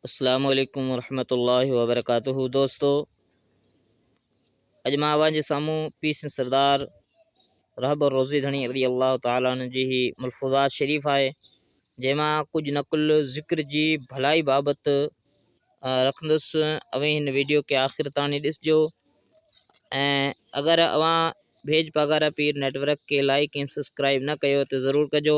السلام عليڪم ورحمة الله وبرڪاته دوستو اڄ مان اوهان جي سامهون پي سين سردار رهب روزي ڌڻي رضي الله تعاليٰ عنه جي هي ملفوظات شريف آهي جنهن مان ڪجهه نقل ذڪر جي ڀلائي بابت رکندس اوهين هن ويڊيو کي آخر تاڻي ڏسجو ۽ اگر اوهان ڀيج پاگارا پير نيٽ ورڪ کي لائڪ ۽ سبسڪرائب نه ڪيو ته ضرور ڪجو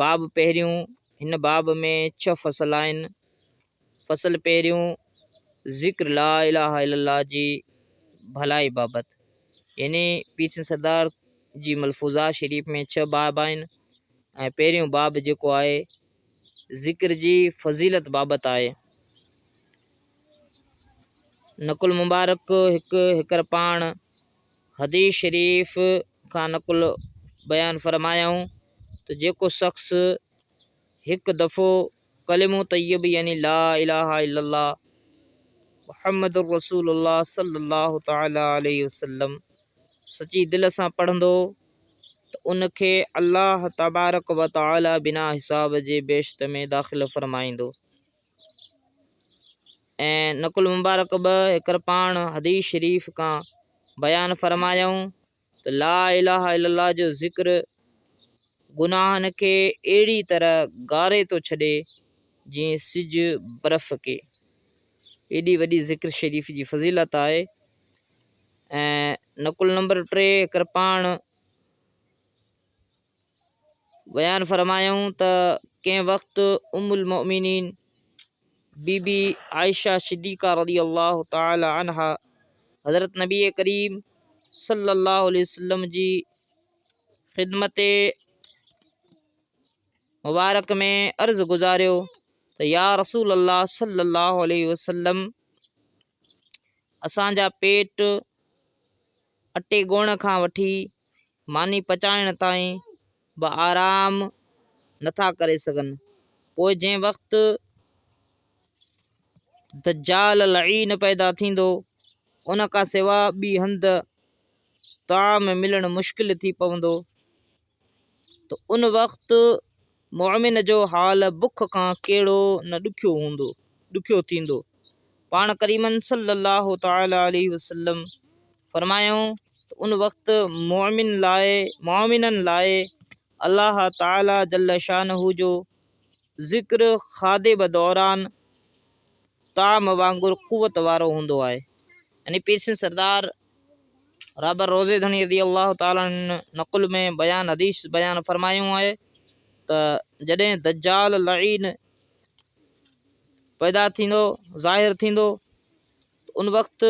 باب پهريون، هن باب ۾ ڇهه فصل آهن. فصل پهريون، ذڪر لا اله الا الله جي ڀلائي بابت، يعني پير سنڌ سردار جي ملفوظات شريف ۾ ڇهه باب آهن ۽ پهريون باب جيڪو آهي ذڪر جي فضيلت بابت آهي. نقل مبارڪ هڪ هڪر پاڻ حديث شريف کان نقل بيان فرمايائون ته جيڪو شخص هڪ دفعو ڪلمو طيب يعني لا اله الا الله محمد رسول الله صلي الله تعالي عليه وسلم سچي دل سان پڙهندو ته ان کي الله تبارڪ وتعالي بنا حساب جي بهشت ۾ داخل فرمائيندو ۽ نقل مبارڪ به هيڪر پاڻ حديث شريف کان بيان فرمايائون ته لا اله الا الله جو ذڪر گناهن کي اهڙي طرح گاري ٿو ڇڏي جيئن سج برف کي ايڏي وڏي ذڪر شريف جي فضيلت آهي ۽ نقل نمبر ٽي هيڪر پاڻ بيان فرمايائون ته ڪنهن وقت ام المؤمنين بي بي عائشه صديقه رضي الله تعالي عنها حضرت نبي ڪريم صلي الله عليه وسلم جي خدمت مبارڪ ۾ عرض گذاريو ته يا رسول الله صلي الله عليه وسلم اسان جا پيٽ اٽي ڳوهڻ کان وٺي ماني پچائڻ تائين به آرام نٿا ڪري سگهن. پوء جنهن وقت دجال لعين پيدا ٿيندو ان کان سوا ٻي هنڌ طعام ملڻ مشڪل ٿي پوندو ته ان وقت مؤمن جو حال بک کان ڪهڙو نه ڏکيو هوندو، ڏکيو ٿيندو. پاڻ ڪريم صلّي اللّٰه تعالٰي عليه وسلّم فرمايائون ته ان وقت مؤمن لاء، مؤمنن لاء الله تعالٰي جلّ شانه جو ذڪر خاديب دوران طعام وانگر قوت وارو هوندو آهي. يعني پيرسين سردار رابر روزي ڌڻي رضي الله تعالٰي عنه نقل ۾ بيان حديث بيان فرمايون آهي ته جڏهن دجال لعين پيدا ٿيندو ظاهر ٿيندو ان وقت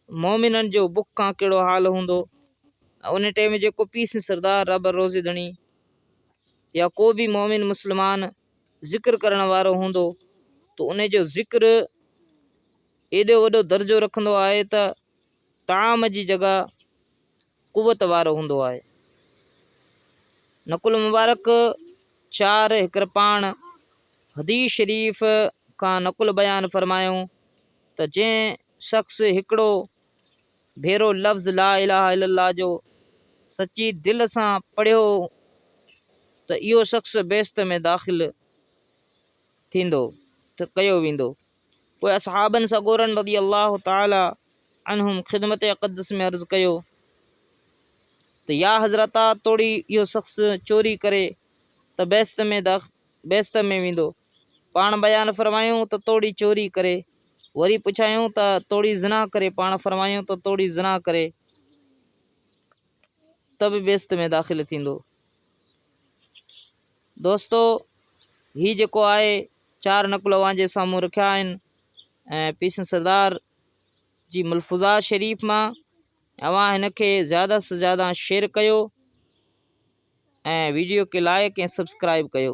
مومنن جو بک کان کانڪهڙو حال هوندو ان ٽائم جيڪو پيس سردار رب روزي ڌڻي يا ڪو به مومن مسلمان ذڪر ڪرڻ وارو هوندو ته ان جو ذڪر ايڏو وڏو درجو رکندو آهي ته طعام جي جڳهه قوت وارو هوندو آهي. نقل مبارڪ چار هڪرپاڻ حديث شريف کان نقل بيان فرمايون ته جنهن شخص هڪڙو ڀيرو لفظ لا اله الا الله جو سچي دل سان پڙهيو ته اهو شخص بهشت ۾ داخل ٿيندو ته ڪيو ويندو. پوء اصحابن سڳورن رضي الله تعالٰي عنهم خدمت اقدس ۾ عرض ڪيو ته يا حضرتا توڙي اهو شخص چوري ڪري ته بهشت ۾ بهشت ۾ ويندو. پاڻ بيان فرمايون ته توڙي چوري ڪري. وري پڇايون ته توڙي زنا ڪري پاڻ فرمايون ته توڙي زنا ڪري. طب بهشت ۾ داخل ٿيندو. دوستو هي جيڪو آهي چار نقل اوهان جي سامهون رکيا آهن ۽ پيسن سردار جي ملفوظا شريف مان اوهان هن کي زياده سان زياده شيئر ڪيو ۽ ويڊيو کي لائڪ ۽ سبسڪرائب ڪيو